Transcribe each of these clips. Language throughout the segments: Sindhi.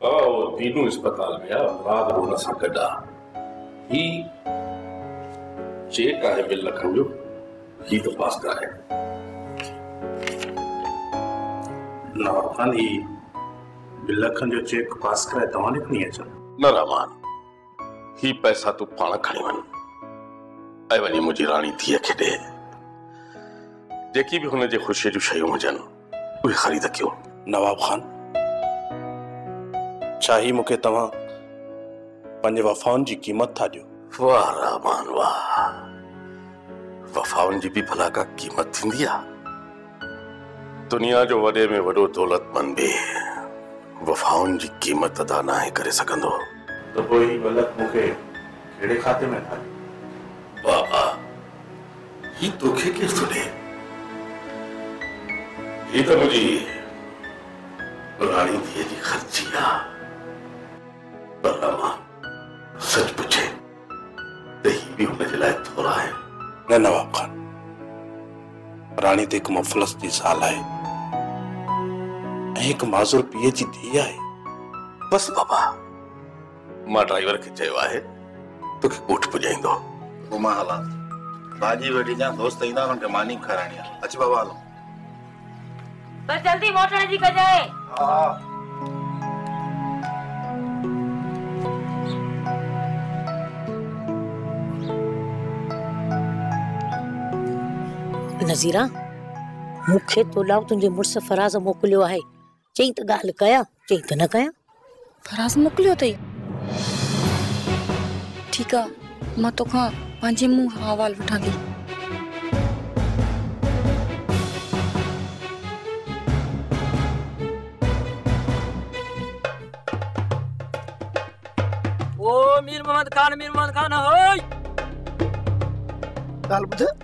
بابا هو دينو اسپتال ۾ آ مراد به ان سان گڏ آ هي چيڪ آهي ٻن لکن جو هي ته پاس ڪرائي نواب خان هي ٻن لکن جو چيڪ پاس ڪرائي توهان ڏي کڻي اچان نه رحمان هي پئسا تون پاڻ کڻي وڃ ۽ وڃي منهنجي راڻي ڌيء کي ڏي جيڪي به هن جي خوشي جون شيون هجن اهي خريد ڪيو. نواب خان، ڇا هي مون کي توهان پنهنجي وفائن جي قيمت ٿا ڏيو؟ واه رحمان واه، وفائن جي به ڀلا ڪا قيمت ٿيندي آ؟ دنيا جو وڏي ۾ وڏو دولتمند به وفائن جي قيمت ادا ناهي ڪري سگهندو. ته پوء هي ٻه لک مون کي ڪهڙي کاتي ۾ ٿا ڏيو؟ بابا! هي توکي ڪير ٿو ڏئي؟ هي ته منهنجي پراڻي ڌيء جي خرچي آ. پر اما سچ پڇي ته هي به هن جي لاء ٿورا آهن. نه نواب خان، پراڻي ته هڪ مفلس جي زال آهي ۽ هڪ معذور پيء جي ڌيء آهي. بس بابا! مان ڊرائيور کي چيو آهي توکي ڳوٺ پڄائيندو. پوء مان هلان ٿو. ڀاڄي ويڙهي ڏيان. دوست ايندا انهن کي ماني به کارائڻي آهي. اچ بابا هلون. بس جلدي موٽڻ جي ڪجانء. ها. نذيرا مون کي تو ڏانهن تنهنجي مڙس فراز موڪليو آهي. چئين ته ڳالهه ڪيان، چئين ته نه ڪيان. فراز موڪليو اٿئي. ٺيڪ آ، مان توکان پنهنجي منهن احوال وٺان ٿي. او مير محمد خان، مير محمد خان، هئي! ڳالهه ٻڌ.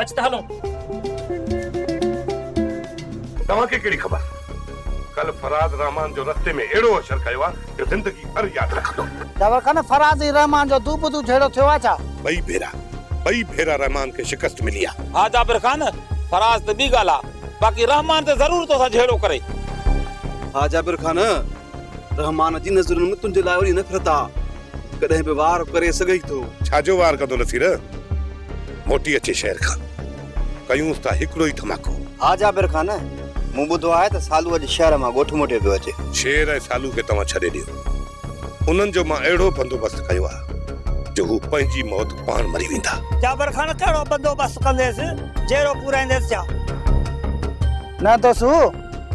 اچ ته هلون. توهان کي ڪهڙي خبر ڪلهه فراز رحمان جو رستي ۾ اهڙو اشر ڪيو آ جو زندگي ڀر ياد رکندو. داور خان فراز ۽ رحمان جو دو بدو جهيڙو ٿيو آ ڇا؟ ٻئي ڀيرا ٻئي ڀيرا رحمان کي شڪست ملي آ. ها جابر خان فراز ته ٻي ڳالهه آ باقي رحمان ته ضرور توسان جهيڙو ڪري. ها جابر خان رحمان جي نظرن ۾ تنهنجي لاء اهڙي نفرت آ ڪڏهن به وار ڪري سگهي ٿو. ڇا جو وار ڪندو نصير؟ موٽي اچي شهر کان ڪيونس ٿا هڪڙو ئي ڌماڪو. ها جابر خان، مون ٻڌو آهي ته سالو اڄ شهر مان ڳوٺ موٽي پيو اچي. شير ۽ سالو کي توهان ڇڏي ڏيو. انهن جو مان اهڙو بندوبست ڪيو آهي جو هو پنهنجي موت پاڻ مري ويندا. جابر خان، ڪهڙو بندوبست ڪنديس؟ جيئرو پورائينديس ڇا؟ نه دوست،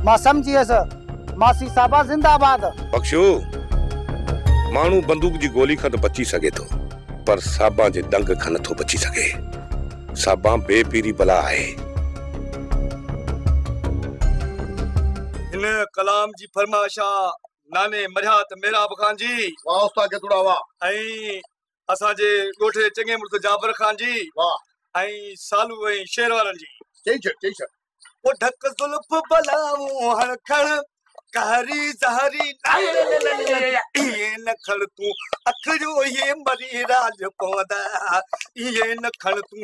مان سمجهي ويس. ماسي صاحبه زنده آباد. بخشو! ماڻهو بندوق جي گولي کان ته بچي سگهي ٿو پر صاحبان جي ڏنگ کان نٿو بچي سگهي. صاحبان بي پيري بلا آهي. هن ڪلام جي فرمائش آ ناني مرهيات ميراب خان جي. واهه استاد گدڙا واهه. ۽ اسان جي ڳوٺ جي چڱي مڙس جعفر خان جي ۽ سالو ۽ شهر وارن جي. چئي ڇڏ چئي ڇڏ. او ڍڪ زلف بلاون هڻ کڻ قهري زهري ايئي نه کڻ تون اکڙيون هي مري راڄ پوندا ايئي نه کڻ تون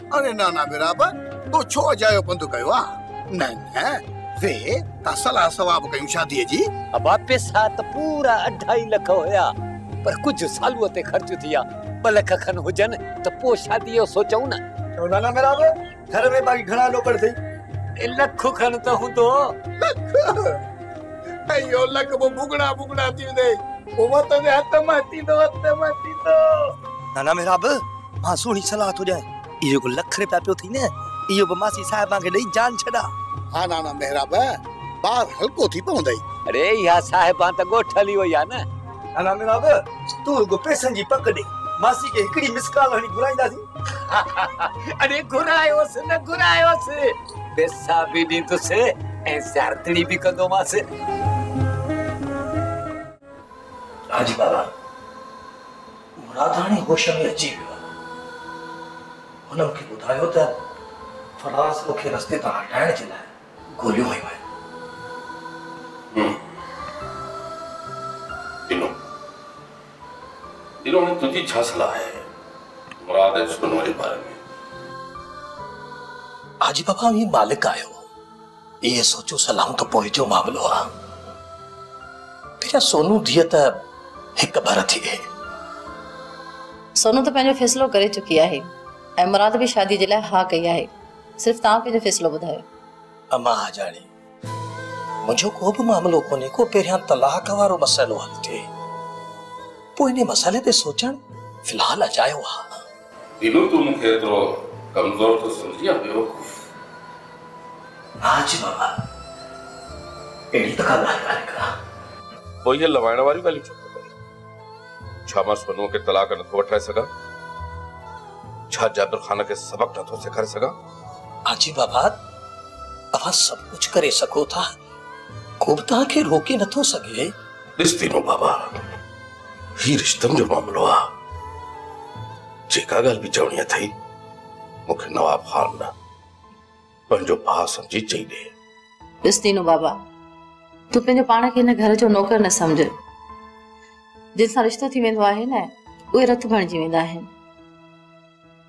اري نانا وراب تو ڇو اجايو پنڌ ڪيو آ نه نه وي ڪا صلاح ثواب ڪيون شادي جي. ابا پيسا ته پورا اڍائي لک هيا پر ڪجهه سالوء تي خرچ ٿيا ٻه لک کن هجن ته پو شادي جو سوچون نه. ڇو نانا وراب گهر ۾ باقي گهڻا لوڪڙ اٿئي. اي لک کن ته هوندو. لک اهو لک پو ڀڳڙا ڀڳڙا ٿيندي پو وتندي هٿ مان ٿيندو هٿ مان ٿيندو. نانا وراب مان سهڻي صلاح ٿو ڏيان، اهو جيڪو لک رپيا پيو اٿئي نه، اهو به ماسي صاحبان کي ڏئي جان ڇڏاء. ها نانا محراب، بار هلڪو ٿي پوندئي. اڙي اها صاحبان ته ڳوٺ هلي وئي آهي نه. نانا محراب، تون رڳو پئسن جي پڪ ڏي، ماسي کي هڪڙي مس ڪال هڻي گهرائينداسين. اڙي گهرايوس نه گهرايوس، پئسا به ڏيندس ۽ زيارتڙي به ڪندومانس. حاجي بابا، مراداڻي هوش ۾ اچي ويو. هن مون کي ٻڌايو ته فراز مون کي رستي تان هٽائڻ جي لاء گوليون هنيون آهن. ڏنو. ڏنو هاڻي تنهنجي ڇا صلاح آهي مراد ۽ سونو جي باري ۾؟ حاجي بابا اوهين مالڪ آهيو. اهي سوچيو سلائون ته پوء جو معاملو آ. پنهنجا سونو ڌيء ته هڪ ڀر ٿي گئي. سونو ته پنهنجو فيصلو ڪري چڪي آهي ۽ مراد به شاديء جي لاء ها ڪئي آهي. صرف توهان پنهنجو فيصلو ٻڌايو. امان آجاڻي، منهنجو ڪو به معاملو ڪونهي ڪو پهريان طلاق وارو مسئلو حل ٿئي. پوء انهي مسئلي تي سوچڻ في الحال اجايو آ. دينو تون مونکي ايترو ڪمزور ٿو سمجهين يا بيوقوف. نا جي بابا اهڙي ته ڪا ڳالهه ڪانهي ڪران. پوء اهي لوائڻ واريون ڳالهيون ڇو ٿو ڪرين؟ ڇا مان سونوء کي طلاق نٿو وٺرائي سگهان؟ ڇا جابر خان کي سبق نٿو سيکاري سگهان؟ نا جي بابا اوهان سڀ ڪجهه ڪري سگهو ٿا ڪو به توهان کي روڪي نٿو سگهي. ڏس دينو بابا. هي رشتن جو معاملو آ، جيڪا ڳالهه به چوڻي اٿئي، مون کي نواب خان نه، پنهنجو ڀاء سمجهي چئي ڏي. ڏس دينو بابا، تون پنهنجو پاڻ کي هن گهر جو نوڪر نه سمجهه. جن سان رشتو ٿي ويندو آهي نه، اهي رٿ بڻجي ويندا آهن.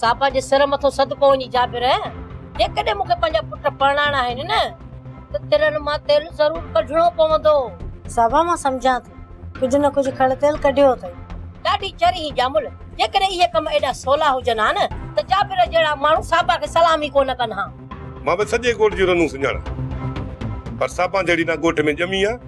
سا پنهنجي سر مٿو صدقو وڃي جابر جيڪڏهن مون کي پنهنجا پٽ پرڻائڻا آهن نه ته ترن مان تيل ضرور ڪڍڻو پوندو. صابا مان سمجهان ٿي ڪجهه نه ڪجهه کڙ تيل ڪڍيو اٿئي. ڏاڍي چر هين ڄامل جيڪڏهن اهي ڪم ايڏا سولا هجن ها نه ته جابر جهڙا ماڻهو صابا کي سلام ئي ڪونه ڪن ها. مان به سڄي ڳوٺ جون رنون سڃاڻان پر صابا جهڙي نه ڳوٺ ۾ ڄمي آ.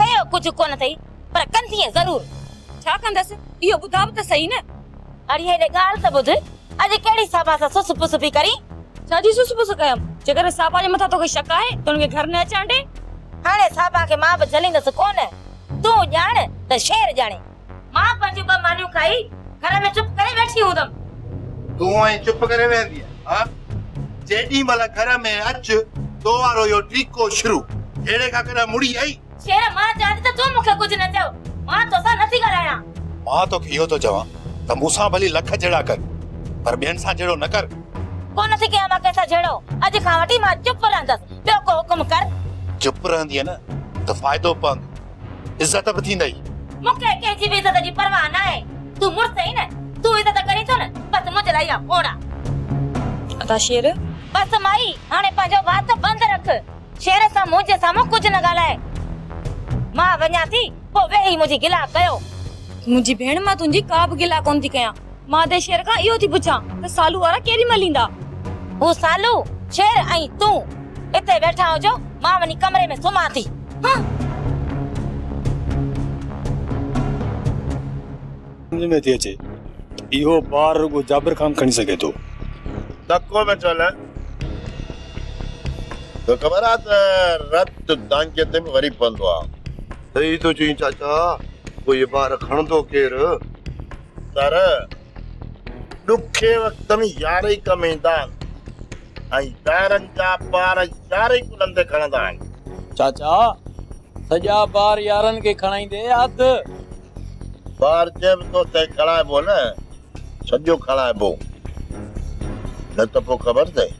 ڪيو ڪجهه ڪونه ٿئي پر ڪندينء ضرور. ڇا ڪندس اهو ٻڌاء به ته سهي نه. اڙي هيڏي ڳالهه ته ٻڌ، اڄ ڪهڙي صابا سان سس پس پئي ڪرين؟ ڇا جي سس پس ڪيم؟ جيڪڏهن صابا جي مٿان توکي شڪ آهي ته ان کي گهر نه اچڻ ڏي. هاڻي صابا کي مان به جهليندس ڪونه. تون ڄاڻ ته شير ڄاڻي. مان پنهنجون ٻه مانيون کائي گهر ۾ چپ ڪري ويٺي هوندم. تون ائين چپ ڪري ويهندينء ها؟ جيڏي مهل گهر ۾ اچ تو وارو اهو ٽيڪو شروع. جهيڙي کان ڪڏهن مڙي آئي؟ شير مان چوان ٿي ته تون مون کي ڪجهه نه چئو. مان تو سان نه ٿي ڳالهايان. مان توکي اهو ٿو چوان ته مون سان ڀلي لک جهيڙا ڪر پر ٻين سان جهيڙو نه ڪر. ڪو نه ٿي ڪيان مان ڪنهن سان جهيڙو. اڄ کان وٺي مان چپ رهندس. ٻيو ڪو حڪم ڪر. چپ رهندينء نه ته فائدو پوندو. عزت به ٿيندئي. مون کي ڪنهن جي به عزت جي پرواهه ناهي. تون مڙس هين نه، تون عزت ڪرين ٿو نه، بس منهنجي لاء اها کوڙ آ. ادا شير! بس مائي، هاڻي پنهنجو وات بند رک. شير سان منهنجي سامهون ڪجهه نه ڳالهاء. مان وڃان ٿي، پوء ويهي منهنجي گلا ڪيو. منهنجي ڀيڻ مان تنهنجي ڪا به گلا ڪونه ٿي ڪيان. مان ته شير کان اهو ٿي پڇان ته سالو وارا ڪيڏي مهل ايندا؟ هو سالو، شير ۽ تون اتي ويٺا هجو، مان وڃي ڪمري ۾ سمهان ٿي. هه! سمجهه ۾ ٿي اچي اهو بار رڳو جابر خان کڻي سگهي ٿو. تڪو ۾ ڇو نه؟ توکي خبر آهي ته رت دانگيء تي به وري پوندو آهي. صحيح ٿو چئين چاچا، پوء هي بار کڻندو ڪير؟ در، ڏکي وقت ۾ يار ئي ڪم ايندا آهن ۽ يارن جا بار يار ئي ڪلهن تي کڻندا آهن. چاچا، سڄا بار يارن کي کڻائيندي اڌ. بار جنهن به تو تنهن کڻائبو نه، سڄو کڻائبو، نه ته پوء خبر اٿئي.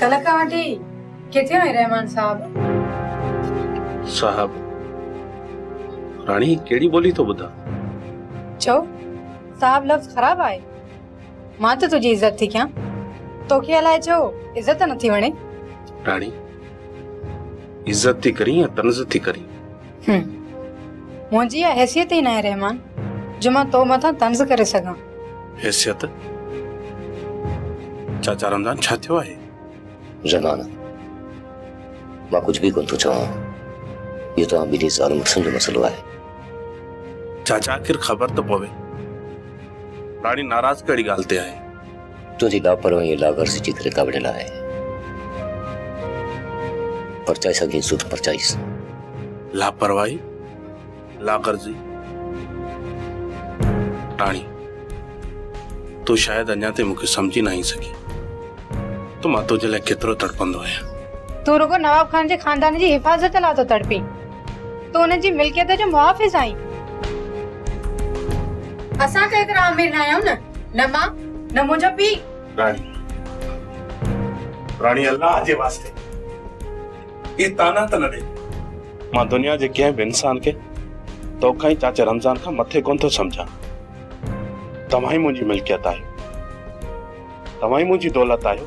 ڪلڪ آنٽي، ڪٿي آهين رحمان صاحب؟ صاحب، راڻي هي ڪهڙي ٻولي ٿو ٻڌان؟ ڇو؟ صاحب لفظ خراب آهي؟ مان ته تنهنجي عزت ٿي ڪيان. توکي الائي ڇو عزت نٿي وڻي؟ راڻي، عزت ٿي ڪرين يا طنز ٿي ڪرين؟ هوم. منهنجي اها حيثيت ئي ناهي رحمان جو مان تو مٿان طنز ڪري سگهان. حيثيت؟ چاچا رمضان ڇا ٿيو آهي؟ رحمان، مان ڪجهه به ڪونه ٿو چوان. اهو توهان ٻنهي زال مڙسن جو مسئلو آهي. چاچا آخر خبر ته پوي. راڻي ناراض ڪهڙي ڳالهه تي آهي؟ تنهنجي لاپرواهي ۽ لاغرضي جي ڪري ڪاوڙيل آهي. پرچائي سگهين ٿو ته پرچائيس. لاپرواهي، لاغرضي، ٽاڻي، تون شايد اڃا تائين مون کي سمجهي ناهين سگهي ته مان تنهنجي لاء ڪيترو تڙپندو آهيان. تون رڳو نواب خان جي خاندان جي حفاظت لاء ٿو تڙپين. تون ان جي ملڪيت جو محافظ آهين. اسان ته ايترا امير نه آهيون نه. نه مان نه منهنجو پيء. راڻي. راڻي الله جي واسطي اهي طعنا ته نه ڏي. مان دنيا جي ڪنهن به انسان کي توکان ۽ چاچي رمضان کان مٿي ڪونه ٿو سمجهان. توهان ئي منهنجي ملڪيت آهيو. توهان ئي منهنجي دولت آهيو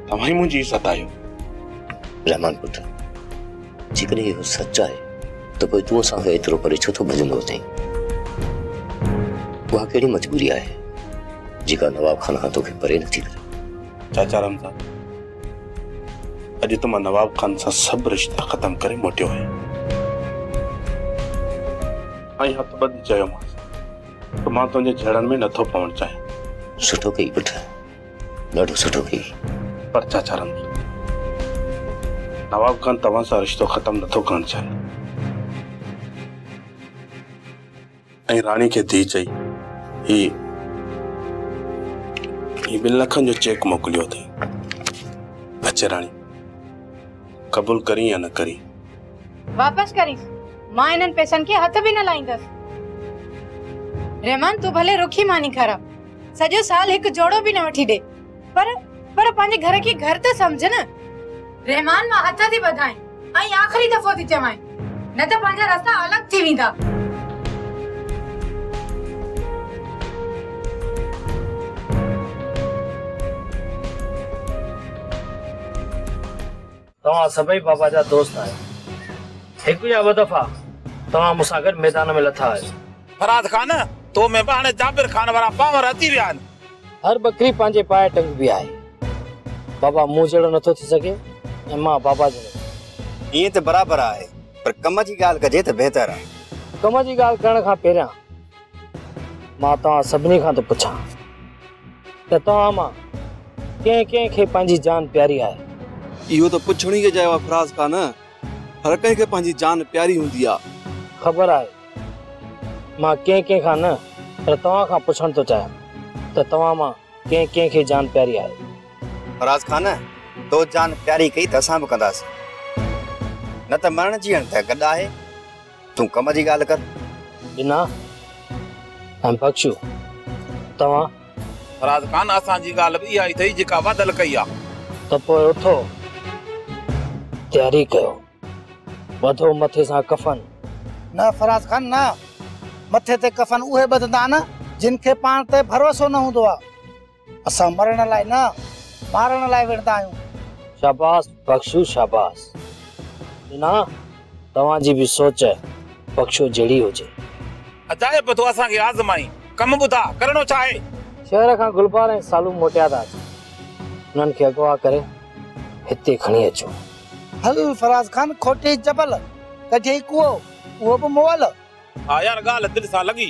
توهان ئي منهنجي عزت آهيو رحمان پٽ جيڪڏهن اهو سچ آهي ته پوء تون اسان کان ايترو پري ڇو ٿو ڀڄندو اچين اها ڪهڙي مجبوري آهي جيڪا نواب خان کان توکي پري نٿي ڪري چاچا رمضان اڄ ته مان نواب خان سان سڀ رشتا ختم ڪري موٽيو آهيان ۽ هٿ ٻڌي چيومانس ته مان تنهنجي جهيڙن ۾ نٿو پوڻ چاهيان. سٺو ڪئي پٽ، ڏاڍو سٺو ڪئي. پر چاچا رنڌير، نواب خان توهان سان رشتو ختم نٿو ڪرڻ چاهي. ۽ راڻي کي ڌيء چئي هي هي ٻن لکن جو چيڪ موڪليو اٿئي. اچي راڻي، قبول ڪرين يا نه ڪرين. واپس ڪريس، مان انهن پئسن کي هٿ به نه لائيندس. رحمان تون ڀلي رکي ماني کارا، سڄو سال هڪ جوڙو به نه وٺي ڏي، پر پر پنهنجي گهر کي گهر ته سمجهه نه. رحمان مان هٿ ٿي ٻڌائين ۽ آخري دفعو ٿي چوانء، نه ته پنهنجا رستا الڳ ٿي ويندا. توهان سڀئي بابا جا دوست آهيو. هڪ يا ٻه دفعا توهان مون سان گڏ ميدان ۾ لٿا آهيو. فرهاد خان، تو ۾ به هاڻي جابر خان وارا پاور اچي ويا آهن. هر ٻڪري پنهنجي پاء ٽنگبي آهي. بابا مون جهڙو نٿو ٿي سگهي ۽ مان بابا جهڙو نه. ائين ته برابر آهي، پر ڪم جي ڳالهه ڪجي ته بهتر آهي. ڪم جي ڳالهه ڪرڻ کان پهريان. مان توهان سڀني کان ٿو پڇان ته توهان مان ڪنهن ڪنهن کي پنهنجي جان پياري آهي؟ اهو ته پڇڻ ئي اجايو آهي فراز خان، هر ڪنهن کي پنهنجي جان پياري هوندي آهي. خبر آهي، مان ڪنهن ڪنهن کان نه پر توهان کان پڇڻ ٿو چاهيان ته توهان مان ڪنهن ڪنهن کي جان پياري آهي؟ فراز خان، تو جان پياري ڪئي ته اسان به ڪنداسين، نه ته مرڻ جيئڻ ته گڏ آهي. تون ڪم جي ڳالهه ڪر. بنا ۽ بخشو توهان. فراز خان، اسان جي ڳالهه به اها ئي اٿئي جيڪا واڌل ڪئي آ. ته پوء اٿو تياري ڪيو. ٻڌو مٿي سان ڪفن. نه فراز خان نه. مٿي تي ڪفن اهي ٻڌندا آهن جن کي پاڻ تي ڀروسو نه هوندو آ. اسان مرڻ لاء نه مارڻ لاء وڙهندا آهيون. شاباس بخشو شاباس ڏنا توهان جي به سوچ بخشو جهڙي هجي. عجائب ٿو اسان کي آزمائي ڪم ٻڌا ڪرڻو ڇا آهي. شهر کان گلبار ۽ سالو موٽيا ٿا اچن انهن کي اغوا ڪري هتي کڻي اچو. هل فراز خان کوٽي جبل ڪڍيئي ڪوئو اهو به مئل. ها يار ڳالهه دل سان لڳي.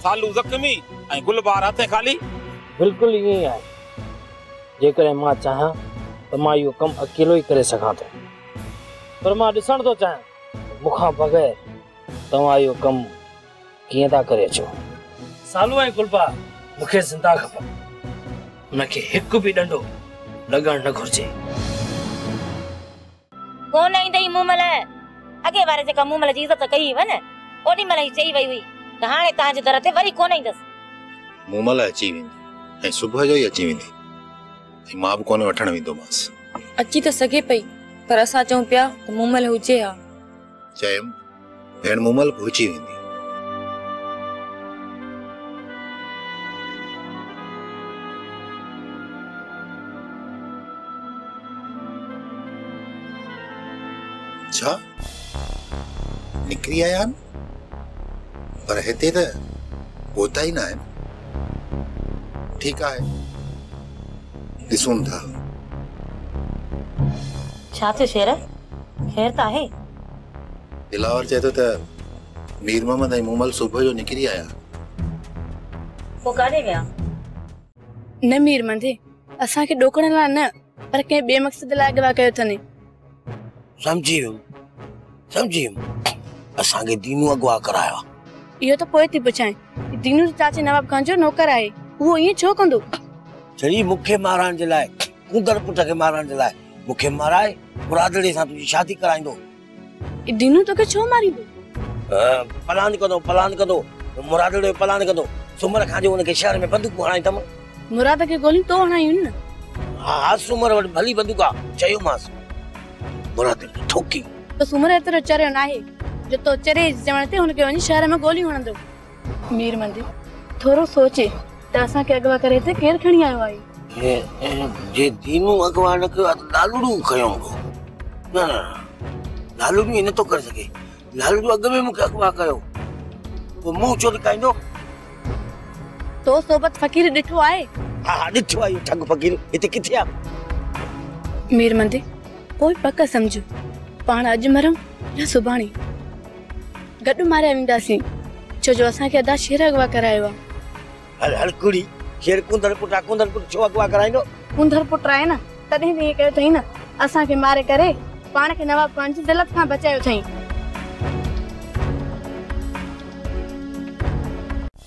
سالو زخمي ۽ گل بهار هٿين خالي. بلڪل ائين ئي آهي. جيڪڏهن مان چاهيان ته مان اهو ڪم اڪيلو ئي ڪري سگهان ٿو. پر مان ڏسڻ ٿو چاهيان ته مون کان بغير توهان اهو ڪم ڪيئن ٿا ڪري اچو. سالو ۽ گل بهار مون کي زنده کپن. انهن کي هڪ به ڏنڊو لڳڻ نه گهرجي. ڪونه ايندئي مون مھل. اڳئين واري جيڪا مون مھل جي عزت ڪئي ھئي ھن، اوڏي مھل ئي چئي وئي ھئي ته ھاڻي توھان جي در تي وري ڪونه ايندس. مون مھل اچي ويندي ۽ صبح جو ئي اچي ويندي ۽ مان به ڪونه وٺڻ ويندومانس. اچي ته سگھي پئي پر اسان چئون پيا ته مون مھل ھجي ھا. چيم، ڀيڻ مومل گهرجي ويندي. ڇا؟ نڪري آيا آهن؟ پر هتي ته پهتا ئي نه آهن. ٺيڪ آهي، ڏسون ٿا. ڇا ٿيو شير؟ خير ته آهي؟ دلاور چئي ٿو ته مير محمد ۽ مومل صبح جو نڪري آيا. پوء ڪاڏي ويا؟ نه مير مهندي، اسان کي ڏوڪڻ لاء نه، پر ڪنهن ٻئي مقصد لاء اغوا ڪيو اٿن. سمجهي ويم، سمجهي ويم، اسان کي دينو اغوا ڪرايو آهي. اهو ته پوء ٿي پڇانء ته دينو ته چاچي نواب خان جو نوڪر آهي، اهو ائين ڇو ڪندو؟ جي مون کي مارڻ جي لاء، ڪونڌڙ پٽ کي مارڻ جي لاء، مون کي مارائي برادڙي سان تنهنجي شادي ڪرائيندو. اي دينو توکي ڇو ماريندو؟ پلان ڪندو پلان ڪندو مرادڙي جو پلان ڪندو سومر کان جو ان کي شهر ۾ بندوقون هڻائي تم. مراد کي گوليون تو هڻايون هن نه. ها ها سومر وٽ ڀلي بندوق آ چيومانس مرادڙي کي ٺوڪي. سومر ايترو چريو ناهي جو تو چريي جي چوڻ تي هن کي وڃي شهر ۾ گوليون هڻندو. مير مندي، ٿورو سوچي، ته اسان کي اغوا ڪري هتي ڪير کڻي آيو آهي؟ جي دينو اغوا نه ڪيو آهي ته لالڙو کنيو هوندو. نه نه لالڙو ائين نٿو ڪري سگهي. لالڙو اڳ ۾ مون کي اغوا ڪيو پوء منهن ڇو لڪائيندو؟ تو صحبت فقير ڏٺو آهي؟ ها ها ڏٺو آهي اهو ٺڳ فقير هتي ڪٿي آهي؟ مير مندي، پوء پڪ سمجهه پاڻ اڄ مرون يا سڀاڻي. گڏ ماريا وينداسين. ڇو جو اسان کي ادا شير اغوا ڪرايو آ. هل هل ڪڙي شير ڪونڌڙ پٽ آ ڪونڌڙ پٽ ڇو اغوا ڪرائيندو. ڪونڌڙ پٽ آهي نه تڏهن به ائين ڪيو اٿئي نه اسان کي ماري ڪري پاڻ کي نواب خان جي ذلت کان بچايو اٿئي.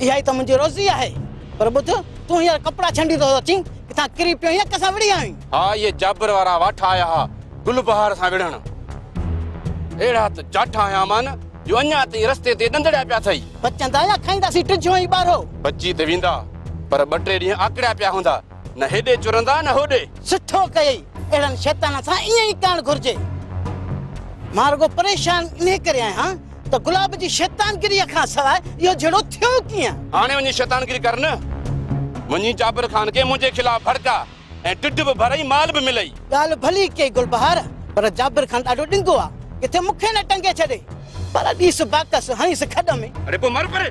اها ئي ته منهنجي روزي آهي. پر ٻڌ، تون هينئر ڪپڙا ڇنڊي ٿو اچين، ڪٿان ڪري پيو هين، ڪسان وڙهي آيوين؟ ها، اهي جابر وارا واٺا آيا ها، گل بهار سان وڙهڻ. اهڙا ته جاٺا هنيا مان، جو اڃا تائين رستي تي ڏندڙيا پيا اٿئي. بچندا يا کائينداسين ٽجهو ۽ ٻارهو. بچي ته ويندا، پر ٻه ٽي ڏينهن آڪڙيا پيا هوندا. نه هيڏي چرندا نه هوڏي. سٺو ڪيئي، اهڙن شيطانن سان ائين ئي ڪرڻ گهرجي. مان رڳو پريشان انهي ڪري آهيان ته گلاب جي شيطانگريء کان سواء اهو جهيڙو ٿيو ڪيئن؟ هاڻي وڃي شيطانگري ڪر نه. وڃي جابر خان کي منهنجي خلاف ڀڙڪاء ۽ ڍڍ به ڀرئي مال به ملئي. ڳالهه ڀلي ڪيئي گلبهار، پر جابر خان ڏاڍو ڏنگو آ، ڪٿي مون کي نه ٽنگي ڇڏي. پر ڏيس باڪس هڻيس کڏ ۾. اڙي پوء مر پري.